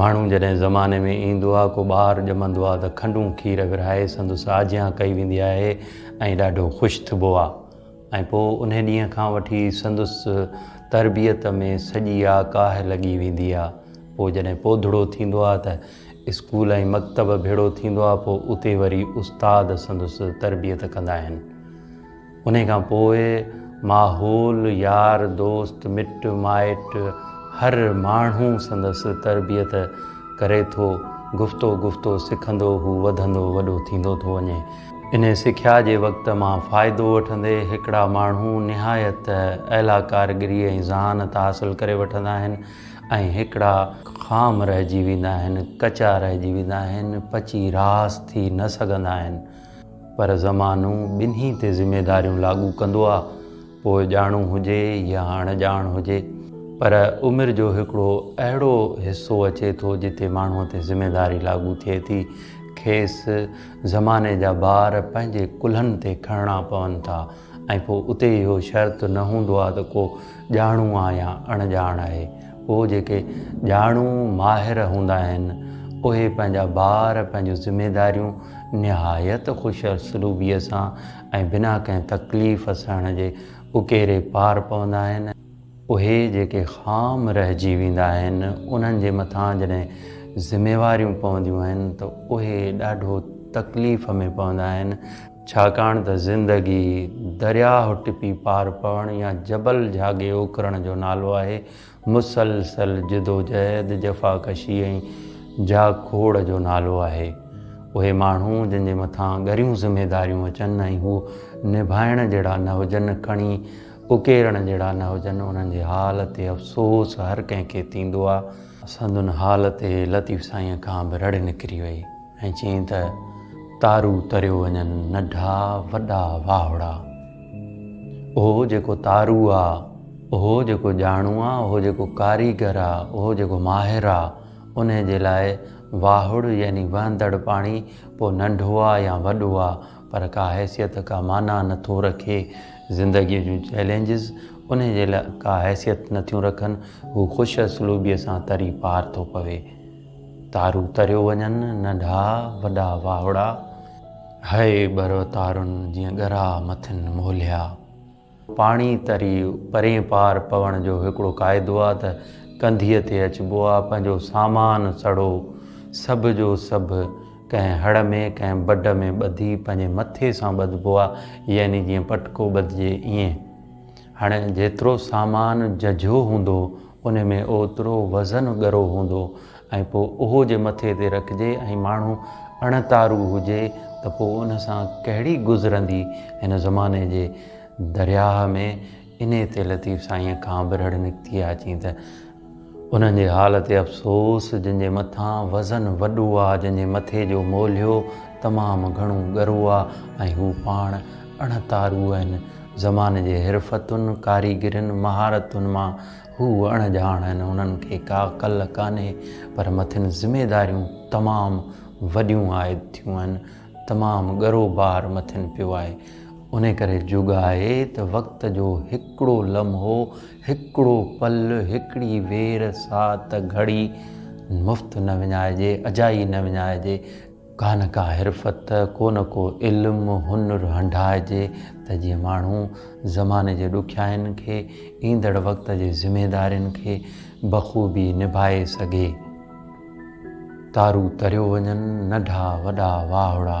ماڻهو جڏهن زماني ۾ ايندو آهي ڪو ٻار ڄمندو آهي ته کنڊون کير ورهائي سندس آجيان ڪئي ويندي آهي ۽ ڏاڍو خوش ٿبو آهي ۽ پوء انهي ڏينهن کان وٺي سندس تربيت ۾ سڄي آ ڪاهه لڳي ويندي آ. پوء جڏهن پوڌڙو ٿيندو آ ته اسڪول ۽ مڪتب ڀيڙو ٿيندو آ پوء اتي وري استاد سندس تربيت ڪندا آهن. انهي کان پوء ماحول، يار دوست، مٽ مائٽ هر ماڻهو سندس تربيت ڪري ٿو. گفتو گفتو سکندو هو وڌندو وڏو ٿيندو ٿو وڃي. انهيء سکيا جي وقت مان فائدو وٺندي هڪڙا ماڻهو نهايت اعليٰ ڪاريگري ۽ ذهانت حاصل ڪري وٺندا آهن ۽ هڪڙا خام رهجي ويندا آهن، ڪچا رهجي ويندا آهن، پچي راس ٿي نه سگهندا آهن. پر زمانو ٻنهي تي ذميداريون لاڳو ڪندو آ، پوء ڄاڻو هجي يا اڻ ڄاڻ هجي. پر عمر جو هڪڙو اهڙو حصو اچي ٿو جتي ماڻهوء تي ذميداري لاڳو ٿئي ٿي، کيس زماني جا بار پنهنجي ڪلهن تي کڻڻا پون ٿا ۽ پوء اتي اهو شرط نه هوندو آهي ته ڪو ڄاڻو آ يا اڻ ڄاڻ آهي پوء جيڪي ڄاڻو ماهر هوندا آهن اهي پنهنجا بار پنهنجون ذميداريون نهايت خوشاسلوبيء سان ۽ بنا ڪنهن تڪليف سهڻ جي اڪيري پار پوندا آهن اهي جيڪي خام رهجي ويندا آهن انهن جي مٿان جڏهن ذميواريون پونديون آهن ته اهي ڏاڍو تڪليف ۾ پوندا آهن، ڇاڪاڻ ته زندگي درياهه ٽپي پار پوڻ يا جبل جهاڳي اوڪرڻ جو نالو آهي، مسلسل جدوجهد، جفاڪشي ۽ جهاڳ کوڙ جو نالو آهي. اهي ماڻهو جن جي مٿان ڳريون ذميداريون اچن ۽ هو نڀائڻ جهڙا نه هجن کڻي اڪيرڻ جهڙا نه هجن، انهن جي حال تي افسوس هر ڪنهن کي ٿيندو آ. سندن حال تي لطيف سائينء کان به رڙ نڪري وئي ۽ چيائين ته تارو تريو وڃن، ننڍا وڏا واهڙا. اهو جيڪو تارو آ، اهو جيڪو ڄاڻو آ، اهو جيڪو ڪاريگر آ، اهو جيڪو ماهر آ، انهي جي لاء واهڙ يعني وهندڙ پاڻي ڪو ننڍو آ يا وڏو آ، پر ڪا حيثيت ڪا معنيٰ نه ٿو رکي، زندگيء جون چئلينجز انهيء جي لاء ڪا حيثيت نه ٿيون رکن، هو خوش اسلوبيء سان تري پار ٿو پوي. تارو تريو وڃن، ننڍا وڏا واهوڙا. هيء ٻرو تارن جيئن ڳرا مٿن موليا. پاڻي تري پرين پار پوڻ جو هڪڙو قاعدو آ ته ڪنڌيء تي اچبو آ، پنهنجو سامان سڙهو سڀ جو سڀ ڪنهن هڙ ۾ ڪنهن بڊ ۾ ٻڌي پنهنجي مٿي سان ٻڌبو آ، يعني جيئن پٽڪو ٻڌجي ائين. هاڻي جيترو سامان ججهو هوندو انهي ۾ اوترو وزن ڳرو هوندو ۽ پوء اهو جي مٿي تي رکجي ۽ ماڻهو اڻتارو هجي ته پوء ان سان ڪهڙي گذرندي هن زماني جي درياهه ۾ انهي تي لطيف سائينء کان به رڙ نڪتي آ چين ته انهن جي حال تي افسوس جن جي مٿان وزن وڏو آ جن جي مٿي جو مولهيو تمام گهڻو ڳرو آ ۽ هو پاڻ اڻتارو آهن زماني جي حرفتن، ڪاريگرين، مهارتن مان هو اڻ ڄاڻ آهن، انهن کي ڪا ڪل ڪانهي، پر مٿين ذميداريون تمام وڏيون عائد ٿيون آهن، تمام ڳرو بار مٿين پيو آهي، انهي ڪري جوڳ آهي ته وقت جو هڪڙو لمحو، هڪڙو پل، هڪڙي وير، ساعت، گهڙي مفت نه وڃائجي، اجائي نه وڃائجي. ڪا نه ڪا حرفت، ڪو نه ڪو علم، هنر هنڍائجي ته جيئن ماڻهو زماني جي ڏکيائين کي، ايندڙ وقت جي ذميدارين کي بخوبي نڀائي سگهي. تارون تريو وڃن، ننڍا وڏا واهڙا.